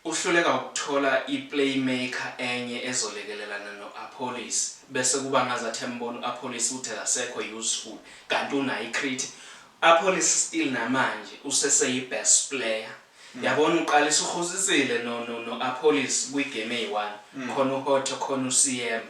Uhluleka ukuthola i-playmaker enye ezolekelelana no-Appollis bese kuba ngazathi embona u-Appollis ukuthi akasekho useful kanti unayo i-crit. U-Appollis still namanje useseyi-best player. Yabona uqalisa uRhosisile no-Appollis kwi-game eyi-one, khona uHotto khona uSiyema.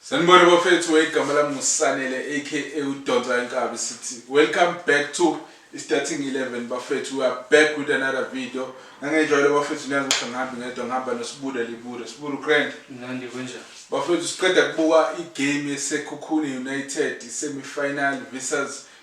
Sanibona bafethu igama lami nguSanele aka udonsa inkabi sithi welcome back to starting 11 bafethu we are back with another video ngangenjalo bafethu niyazi ukuthi ngihambi ngedwa ngihamba nosibuda libuda sibuda ugrand nandi kunjani bafethu siqeda kubuka igame yesekhukhune united semi-final versus